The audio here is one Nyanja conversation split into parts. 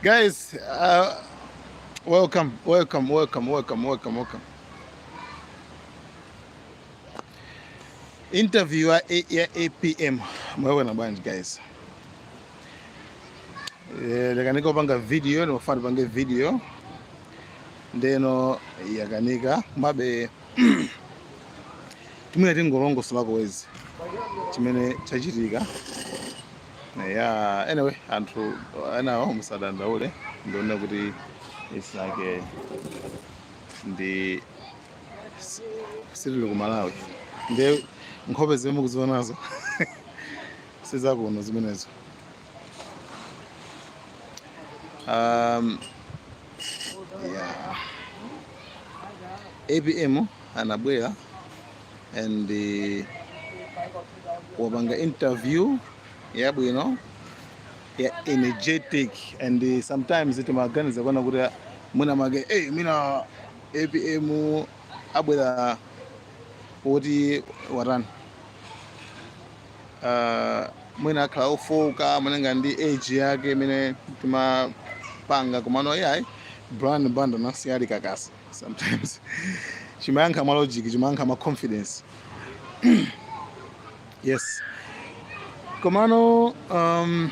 Guys, uh, welcome, welcome, welcome, welcome, welcome, welcome. Interview ya, ya APM mwaiona bwanji guys Eh, yakanika kupanga video nimafuna tipange video ndiyeno yakanika komabe timangoti tingolongosolako basi chimene chachitika Yeah, anyway, anthu enawo musadandaule ndikuona kuti it's like a, ndi si- sitili ku Malawi ndiye nkhope zimene mukuzionazo sizakuno zimenezo um, yeah. apm anabwera and eh, wapanga interview yabwino ya energetic and eh, sometimes timaganiza kuona kuti mwina make hey, mwina apm abwera woti watani uh, mwina akhala ofoka malinga ndi age yake imene timapanga komano iyayi brian banda anasiya ali kakasi sometimes chimayankha mwa logic chimayankha mwa confidence yes komano um,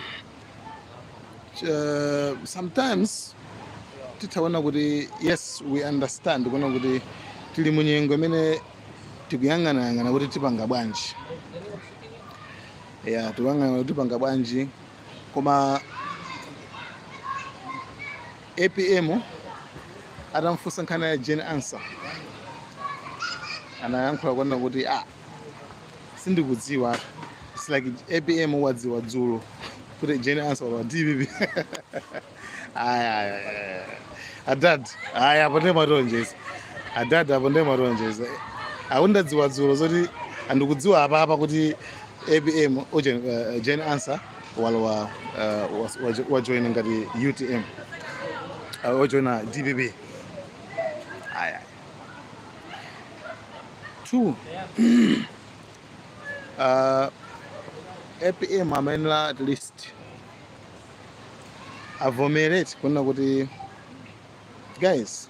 uh, sometimes titha kuona kuti yes we understand kuona kuti tili munyengo imene tikuyang'anayang'ana kuti tipanga bwanji ya tikuyang'ana kuti tipanga bwanji koma Apm atamfunsa nkhani ya Jane Ansah anayankhula kunena kuti ah, sindikudziwa It's like apm wadziwa dzulo kuti Jane Ansah wa dpp aya aya, aya. adad aya apo ndiye mwaonjeza adad apo ndiye mwaonjeza akungodziwa dzulo zoti andikudziwa apapa kuti apm Jane Ansah walowa uh, was- wajo- wajoina ngati utm uh, wajoina dpp ayi ayi two uh, apm amayenera at least avomerate kunena kuti guys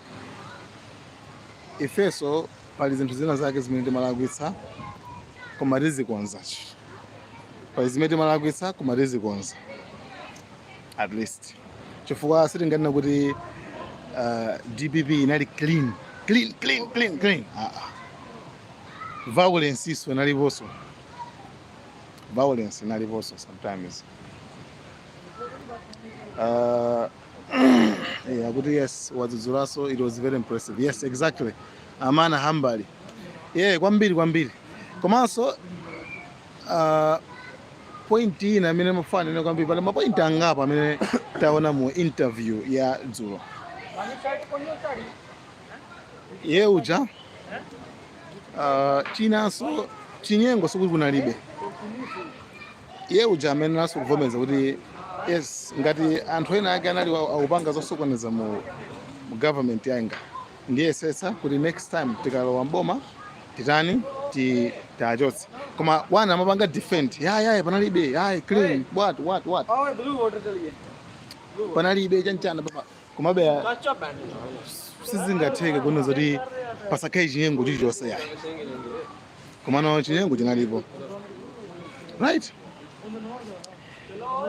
ifeso Pali zinthu zina zake zimene timalakwitsa koma tizikonza. Pali zimene timalakwitsa koma tizikonza at least chifukwa sitinganena kuti uh, DPP inali clean clean clean clean clean uh -uh. violence ifeso inaliponso violence inaliponso sometimes uh, Eh, akuti yes wadzudzulaso it was very impressive yes exactly amana hambali yeah kwambiri kwambiri komanso uh, point ina amene mafana ine kwambiri pali mapoint angapo amene taona mu interview ya dzulo ye uja uh, chinanso chinyengo sokuti kunalibe iye uja amayeneranso kuvomereza kuti yes ngati anthu ena ake anali wa- akupanga zosokoneza mu mu government yanga ndiyesetsa kuti next time tikalowa mboma titani ti- tiachotse koma ona amapanga defend yayaye panalibe yaye clean what what what Oh, blue water chaliye. panalibe chanchana papa komabe ya- Kacha band. sizingatheke kunena zoti pasakhale chinyengo chilichonse yaye komano chinyengo chinalipo right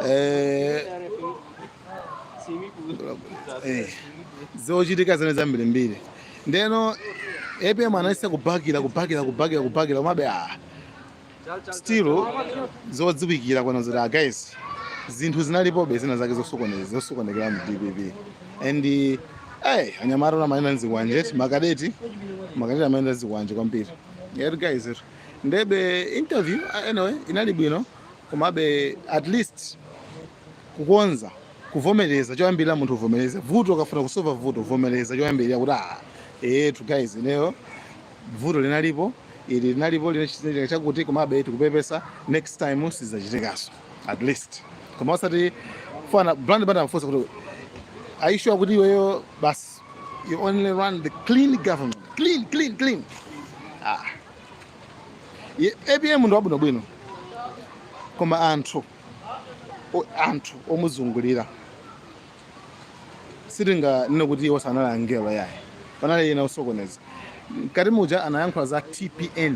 eh, eh, zochitika zimene zambirimbiri ndeno apm anayesa kubakira kubakira kubakira kubakira komabe a ah, still zodziwikira kunena zoti guys zinthu zinalipobe zina zake zosokonekera mu dpp and eh, hey, anyamata ankayenda nzikwanje makadeti makadeti amayenda nzikwanje kwambiri yet guys it ndebe interview ah, anyway inali bwino komabe at least kukonza kuvomereza choyambirira munthu uvomereze vuto ukafuna kusova vuto uvomereza choyambirira kuti ah etu guys ineyo vuto linalipo ili linalipo linachitika chakuti komabe tikupepesa next time sizachitikaso at least koma osati fana brand bada amfunsa kuti are you sure kuti iweyo basi you only run the clean government clean clean clean ah Ye- apm ndi wabwinobwino koma anthu o- anthu omuzungulira sitinganene kuti iwo sanali angelo yayi panali ena osokoneza mkati muja anayankhula za tpn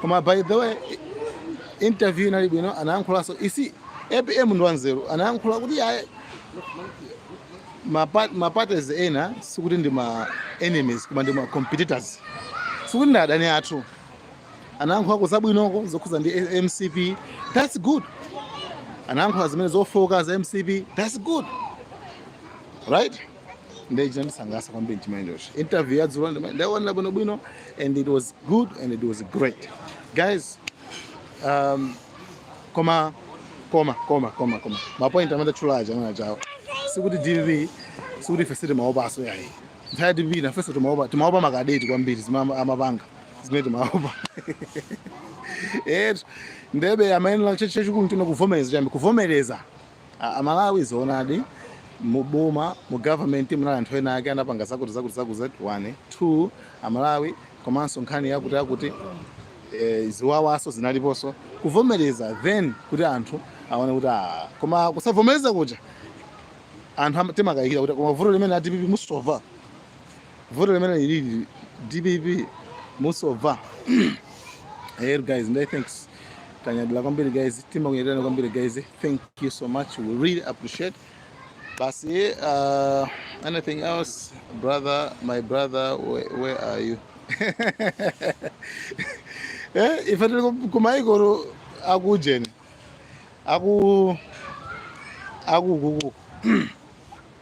koma by the way interview inali bwino anayankhulaso isi apm ndi wanzeru anayankhula kuti aye maparties ena sikuti ndi ma enemies koma ndi ma competitors sikuti ndi adani athu anayankhulako zabwinoko zokhuza ndi mcp that's good anayankhula zimene zofooka za mcp that's good right nde chinandisangalatsa kwambiri chimenecho interview yadzulo ndima- ndaionera bwinobwino and it was good and it was great guys um, koma koma koma koma koma mapoint amene atchula aja amene achawo sikuti dpp sikuti ife sitimaopaso yayi nthawi ya dpp nafenso timaopa timaopa makadeti kwambiri zimene amapanga zimene timaopa etu ndebe amayenera chachikulu chino kuvomereza chambi kuvomereza A Malawi zoonadi mu boma mu government munali anthu ena ake anapanga zakuti zakuti zakuti zakuti one two a Malawi komanso nkhani yakuti yakuti eh, ziwawaso zinaliponso kuvomereza then kuti anthu aone kuti ah, koma kusavomereza kuja anthu ama- timakayikira kuti koma vuto limene a DPP musova vuto limene lili DPP musova Hey guys, and uh, thanks. Tanyadila kwambiri guys, timakunyadirana kwambiri guys. Thank you so much. We really appreciate. Basi, uh, anything else, brother, my brother, where, where are you? eh, ife tili ku- ku maiko akujeni aku akukuku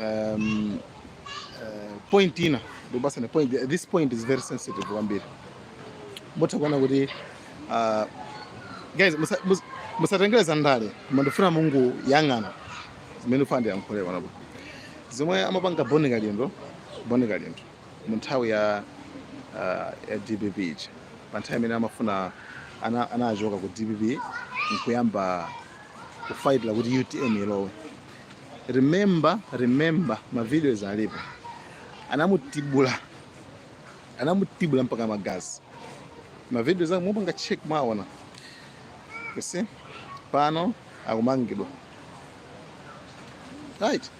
um, uh, point ina ndikupasana point this point is very sensitive kwambiri mutha kuona kuti uh, guys musatengere za ndale koma ndifuna mungoyang'ana zimene ndifuna ndiyankhule panopo zomwe amapanga boni kalindo boni kalindo mu nthawi ya uh, ya dpp ija pa nthawi imene amafuna anachoka ku dpp nkuyamba kufaitira kuti utm ilowe remember remember ma videos alipo anamutibula anamutibula mpaka magazi ma videos ake mupanga check mwaona you see pano akumangidwa right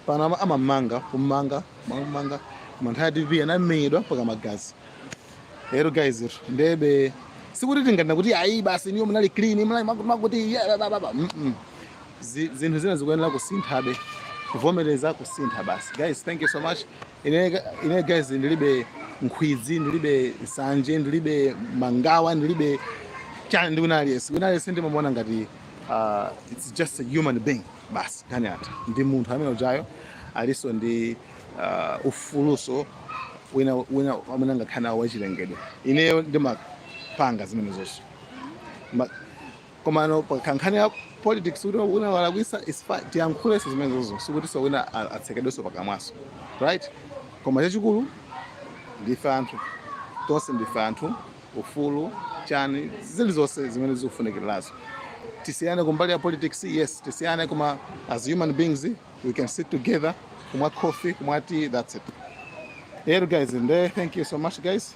pano ama- amamanga kumanga kumanga mu nthawi ya dpp anamenyedwa mpaka magazi lero guys iro ndiyebe sikuti tinganena kuti ayi basi inuyo munali clean munali makuti makuti yeah, ba, ba, ba. Mm, mm. zi, zinthu zina zikuyenera kusinthabe kuvomereza kusintha basi guys thank you so much ine, ine guys ndilibe nkhwidzi ndilibe nsanje ndilibe mangawa ndilibe chani ndi wina aliyense wina aliyense ndimamuona ngati uh, it's just a human being basi kaya ndi munthu ameneyujayo aliso ndi uh, ufuluso wina wina amene angakhale nawo wachilengedwe ineyo ndimapanga zimenezozo Ma- Komano pa nkhani ya politics kuti wina walakwisa is fine tiyankhulenso zimenezozo sikutinso wina a- atsekedwenso pakamwanso right koma chachikulu ndife anthu tonse ndife anthu ufulu chani zilizonse zimene zikufunikirazo tisiyane kumbali ya politics yes tisiyane koma as human beings we can sit together kumwa coffee kumwa tea that's it yeah guys and uh, thank you so much guys